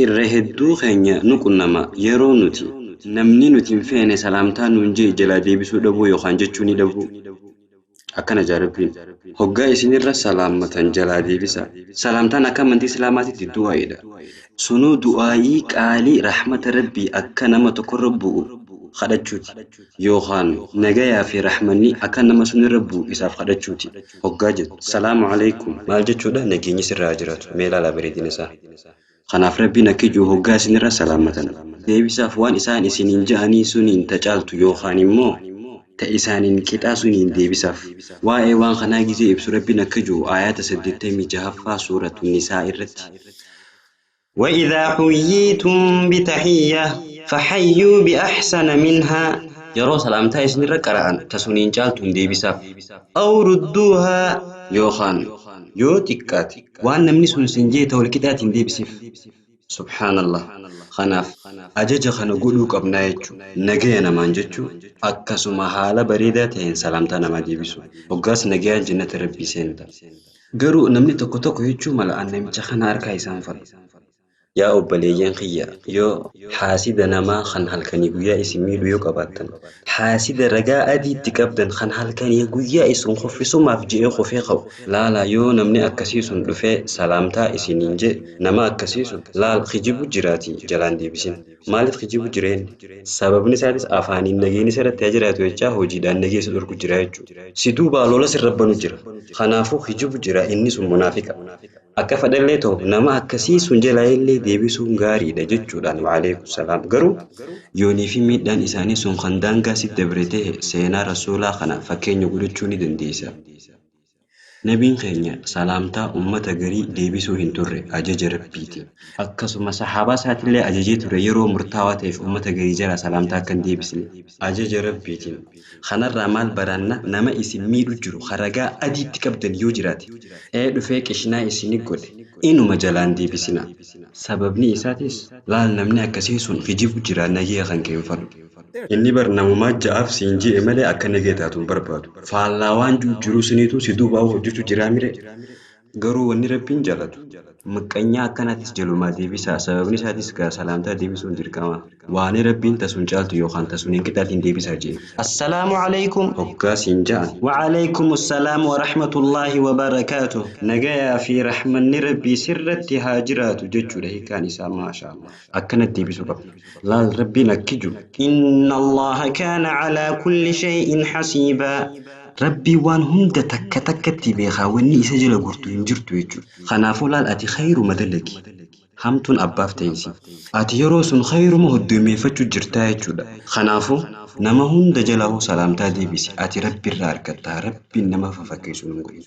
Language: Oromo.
Irra hedduu keenya nu qunnama. Yeroo nuti, namni nuti hin feene salaamtaa nuun je'e jalaa deebisuu dhabuu yookaan jechuu ni dhabuu. Akkana je'a Rabbiin, Hoggaa isin irra salaammatan jalaa deebisaa. Salaamtaan akka amantii Islaamaatitti du'aa'iidha. Sunuu du'aa'ii qaalii rahmata Rabbii akka nama tokko irra bu'u khadhachuuti. Yookaan nagayaa fi rahmanni akka nama sun irra bu'u isaaf khadhachuuti. Hoggaa jettu, Salaamu Aleykum! Maal jechuudha? Nageenyi sirra haa jiraatu! Mee ilaalaa bareedina isaa. Kanaaf Rabbiin akkijuu hoggaa isinirra salaamatan. Deebisaaf waan isaan isiniin ja'anii suniin ta caaltu yookaan immoo. ta isaaniin qixaa suniin deebisaaf. Waa'ee waan kanaa gizee ibsu Rabbiin akkajuu aayaata 86ffaa suuratu nisaa irratti. Wa'idhaa huyyiitum bitahiyyah fahayyuu bi'ahsana minhaa. Yeroo salaamtaa isinirra qara'an ta suniin caaltuun deebisaaf. Aw rudduuhaa. Yookaan yoo xiqqaate Waan namni sun siin jeete walqixaatiin deebisiif. Subhaanallah. Kanaaf, ajaja kana godhuu qabnaa jechu. Nagaya namaan jechu, akkasuma haala bareedaa ta'een salaamtaa namaa deebisu. Hoggaas nagayaan jannata Rabbii seenta. Garuu namni tokko tokko jechuu mala an namicha kana harkaa isaan fadhu. Yaa obboleeyyan kiyya! Yoo haasida namaa kan halkanii guyyaa isin miidhu yoo qabaattan, haasida ragaa adii itti qabdan kan halkanii guyyaa isin kuffisumaaf je'ee kufee ka'u, laalaa yoo namni akkasii sun dhufee salaamtaa isiniin je'e, nama akkasii sun, laal kijibu jiraatii jalaan deebisin. Maaliif kijibu jira inni? Sababni isaatis afaaniin nageenni isa irratti haa jiraatu jechaa hojiidhaan nagee isa dhorku jira jechu'u. Si duubaa lola sirra banu jira. Kanaafuu kijibu jira inni sun munaafiqa. Akka fadhellee ta'u nama akkasii sun jalaayillee deebisuun gaariidha jechuudhaan wa'aleeyku salaam. Garuu yoonii fi miidhaan isaanii sun kan daangaa sitti dabre tahe seenaa Rasuulaa kana fakkeenya godhachuu ni dandeeysa. Nabiin keenya salaamtaa ummata garii deebisuu hin turre ajaja Rabbiitiin. Akkasuma sahaabaa isaatillee ajajee ture yeroo murtaawaa taheef ummata garii jalaa salaamtaa akka hin deebisne ajaja Rabbiitiin. Kanarraa maal baranna nama isin miidhu jiru ka ragaa adii itti qabdan yoo jiraate ee dhufee qishnaa isini godhe inuma jalaan deebisina. Sababnii isaatis laal namni akkasii sun kijibu jira nagee kan kee hin fadhu. Inni bar namumaa ja'aaf siin je'e malee akka nagee taatu hin barbaadu. Faallaa waan ji'u jiruu siniituu si duuba hojjachu jiraa miree? Garuu wanni Rabbiin jaalatu, maqqanyaa akkanaatiis jalumaa deebisaa, sababni isaatiis gaa salaamtaa deebisuun dirqama, waanii Rabbiin ta sun caaltu yookaan ta suniin qixaatiin deebisaa je'e. Assalaamu Aleykum! hoggaa siin ja'an. Wa Aleykumu salaam wa rahmatullaahi wa barakaatuh! Nagayaa fii rahmanni Rabbii sirratti haa jiraatu jechuudha hiikkaan isaa. Maashaallaah. Akkanat deebisuu qabda. Laal Rabbiin akki ju. Inna Allaaha kaana calaa kulli shay'in hasiibaa. Rabbiin waan hunda takka takkatti beekaa wanni isa jala gortu hin jirtu jechu. Kanaafuu laal ati khayruma dalagi. Hamtuun abbaaf tayinsi. Ati yeroo sun khayruma hoddoymeeyfachu jirtaa jechuudha. Kanaafuu nama hunda jalaahu salaamtaa deebisi ati Rabbi irraa argatta Rabbiin nama fafakkeeysu nun godhin.